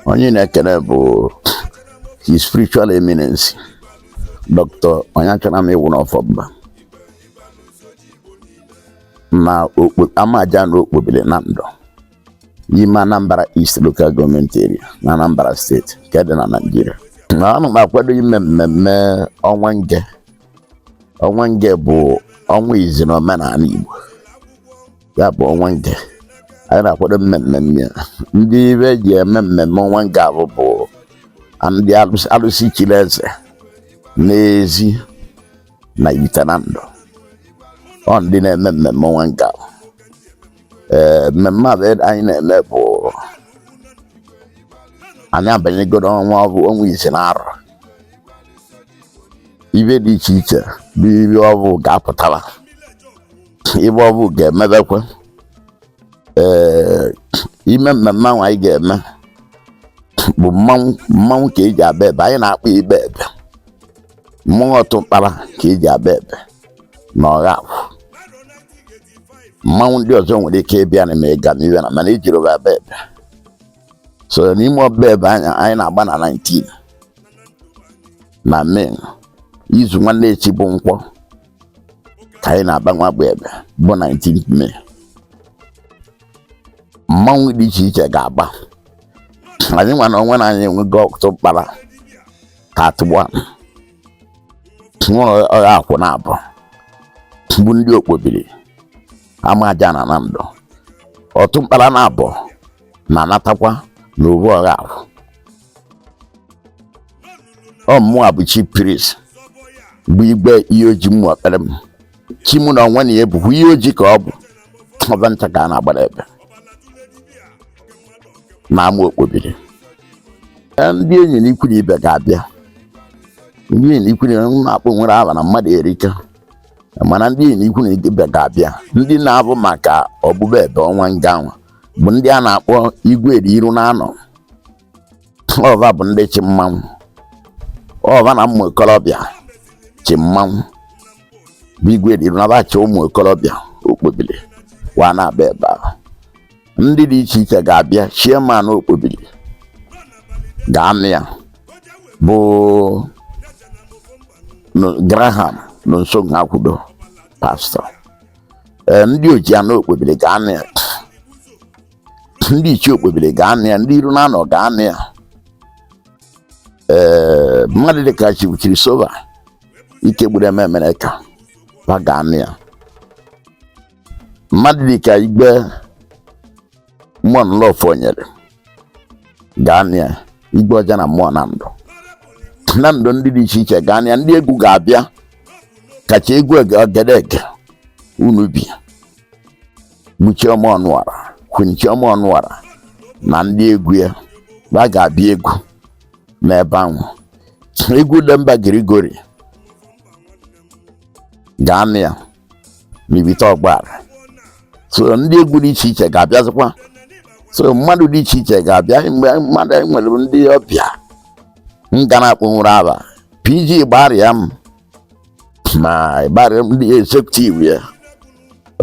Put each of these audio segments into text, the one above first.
onye na-ekele bụ his spiritual eminence dr onyeachonam iwuno ọfọmba na amajana okpobili nando n'ime anambra east local government area na anambra steeti nke dị na naijiria na ana m akwado ime mmemme ọnwa nge ọnwa nge bụ ọnwa izi na omenala igbo ya bụ ọnwa nge anyị na-akwado mmemme ndị ibe ji eme mmemme ọnwa nge avụ bụ ndị alụsị alụsị chiri eze n'ezi na ivite nando ọ ndị na-eme mmemme ọnwa nge avụ ee mmemme avụ anyị na-eme bụ anyị abanyego n'ọnwa ọ bụ ọnwa ise na arọ ive dị iche iche bụ ive ọ bụ ga-apụtara ive ọ bụ ga-emebekwe ee ime mmemme ahụ anyị ga-eme bụ mmanwụ mmanwụ ka eji aba ebe anyị na-akpọ ịba ebe mmanwụ ọtụ mkpara ka eji aba ebe na ọgha akwụ mmanwụ ndị ọzọ nwere ike ịbịa na mega n'iwe na mana ejirọ va aba ebe so n'ime ọba ebe anyị anyị na-agba na 19 na May izu nwanne echi bụ nkwọ ka anyị na-aba nwa bụ ebe bụ 19 May mmanwụ dị iche iche ga-agba anyị nwa na onwe na anyị enwego ọtụ mkpara ka atụgba nwụrụ ọgha akwụ na abụọ bụ ndị okpobili amajana nando ọtụ mkpara na abụọ na-anatakwa n'obu ọgha akwụ ọ mụa bụ chief priest bụ igwe iyi oji mmụ akpere m chi mụ na onwe na ya bụkwa iyi oji ka ọ bụ ọva ncha ka a na-agbara ebe na ama okpobili Ee, ndị enyi na ikwu na ibe ga-abịa ndị enyi na ikwu na ibe na-akpọ nwere aba na mmadụ erika mana ndị enyi na ikwu na ibe ga-abịa ndị na-avụ maka ọgbụgba ebe ọnwa nge nwa bụ ndị a na-akpọ igwe eri iru na anọ ọ va bụ ndị chi mmanwụ ọ va na ụmụ okorobịa chi mmanwụ bụ igwe eri iru na va chi ụmụ okorobịa okpobili wa na-aba ebe ahụ ndị dị iche iche ga-abịa chairman okpobili ga-anọ ya bụ Graham Nonso Nwakwudo pastor ndị ojiana okpobili ga-anọ ya ndị ichie okpobiri ga-anọ ya ndị iru na anọ ga-anọ ya ee mmadụ dịka chibuchiri sova ike gburu eme emere ka ba ga-anọ ya mmadụ dịka igbe mmụọ nlọfọ nyere ga-anọ ya igbe ọja na ụmụ Nando Nando ndị dị iche iche ga-anọ ya ndị egwu ga-abịa kacha egwu egedege Unubi bụ Chioma Ọnụọra Queen Chioma Ọnụọra na ndị egwu ya ba ga-abịa egwu n'ebe ahụ egwu Demba Grigori ga-anọ ya n'ibite ọgbara so ndị egwu dị iche iche ga-abịazikwa so mmadụ dị iche iche ga-abịa mgbe mmadụ nwere ndị ọbịa m ga na-akpọnwụrụ aba PG Igbariam ma Igbariam ndị executive ya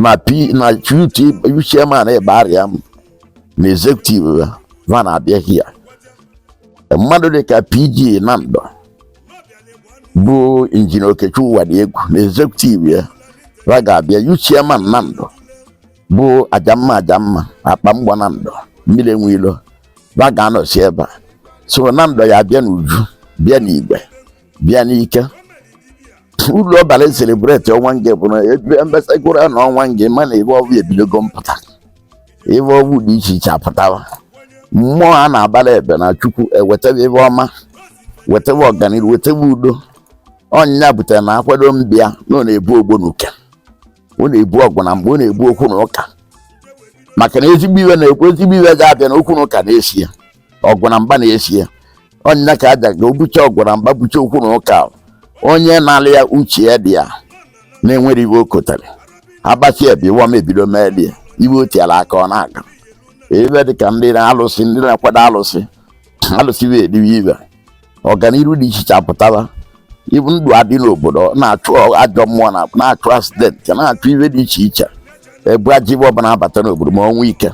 ma p ma youth chairman Igbariam na executive ya ba na-abịa hia mmadụ dịka pg Nando bụ injinia okechukwu Nwadiegwu na executive ya ba ga-abịa youth chairman Nando bụ ajamma ajamma akpa mgbọ Nando mmiri enwe ilo ba ga-anọsi ebe a so Nando ya bịa n'uju bịa n'igwe bịa n'ike ulu ọ bara selebreti ọnwa nge bụ na ebe mbesagoro na ọnwa nge mana ive ọvụ ebidogo mpụta ive ọvụ dị iche iche apụtawa mmụọ a na-agbara ebe na chukwu ewetebe ive ọma wetebe ọganihu wetebe udo ọ nya butere na akwado mbịa na ọ na-egbo ogbonuke ọ na-egbo ọgụ na mgba ọ na-egbo okwu na ụka maka na ezigbo ive na-ekwu ezigbo ive ga-abịa na okwu na ụka na-eso ya ọgụ na mgba na-eso ya ọ nya ka aja ga egbochi ọgụ na mgba gbochie okwu na ụka onye na-alụ ya uche ya dị ya na-ewere ive o kotere agbasi ebe ive ọma ebido mere ya ive o tiara aka ọ na-aga ive dị ka ndị na-alụsị ndị na-akwado alụsị alụsị wee ediwe ibe ọganihu dị iche iche apụtala ibu ndụ adị n'obodo na-achụ ajọ mmụọ na na-achụ asidenti na-achụ ihe dị iche iche egbo ajọ ive ọbụla abata n'obodo ma ọnwụ ike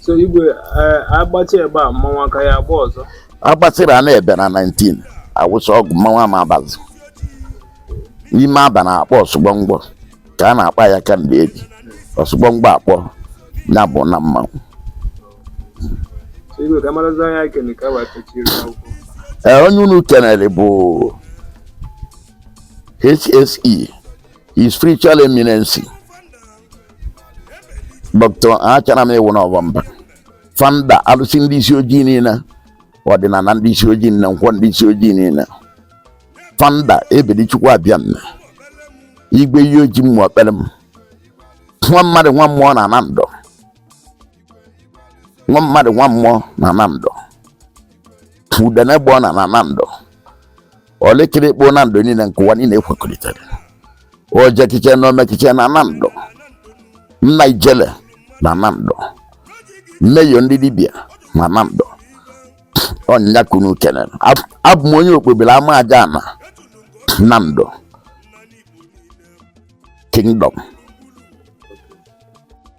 so igwe eh, agbasị ebe a mmanwụ a ka ya-agba ọzọ agbasịrị ya n'ebe na 19 awụsa ọgwụ mmanwụ ama abazi ive a ba na-akpọ ọsụgbọngbọ ka a na-akpọ ya kamgbe eji ọsụgbọngbọ akpọ ya bụ na mmanwụ ee onye unu kenere bụ HSE His Spiritual Eminency Dr. Onyeachonam Iwuno Ofomba founder alụsị ndị isi ojii niile ọdịnala ndị isi ojii na nkwọ ndị isi ojii niile founder Ebelichukwu Abịama Igwe Iyi Ojii mmụọ kpere m nwa mmadụ nwa mmụọ na Nando nwa mmadụ nwa mmụọ na Nando udene gba ọna na Nando ọlịkịrị kpo Nando niile nke ụwa niile ekwekọrịtara ojekiche na omekiche na Nando nna ijele na Nando mmeyo ndị dibịa na Nando ọ nya ka unu kenere abụ m onye Okpobiri Amajana Nando kingdom